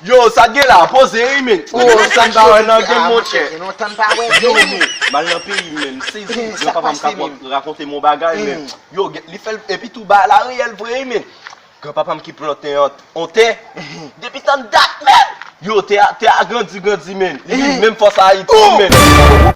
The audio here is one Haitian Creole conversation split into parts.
Yo sak gen la poze ui menn. Ou menm sak gen la nan game monchè. Yo men mal nan peyi m menm sezi yo papa m kap rakonte m yon bagay men yo li fèl epi tou bagay la reyèl vre ui menn gran papa m ki plante yon tè depi tann dat menn yo tè a grandi grandi menn li vin menm fòs ayiti menn.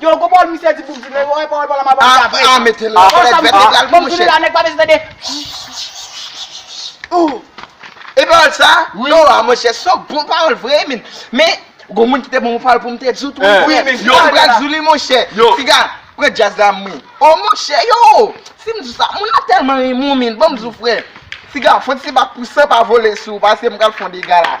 Yow gwo pawòl misye di pou bgy la yow pawòl pawòl la map anvi apre. Aah mete la pawòl sa misye di banm tande la nèg pa bezwen tande ooh. E pawòl sa yow a monchè son bon pawòl vre min men gwo moun kite banm yon pawòl poum te diw tou wi frè men yow pral diw li monchè piga pran djaz la m ri oh monchè yow sim diw sa moun nan tèlman renmen w min banm diw frè piga fon ti bak pou san pa vole sou w paskem pral fon dega la.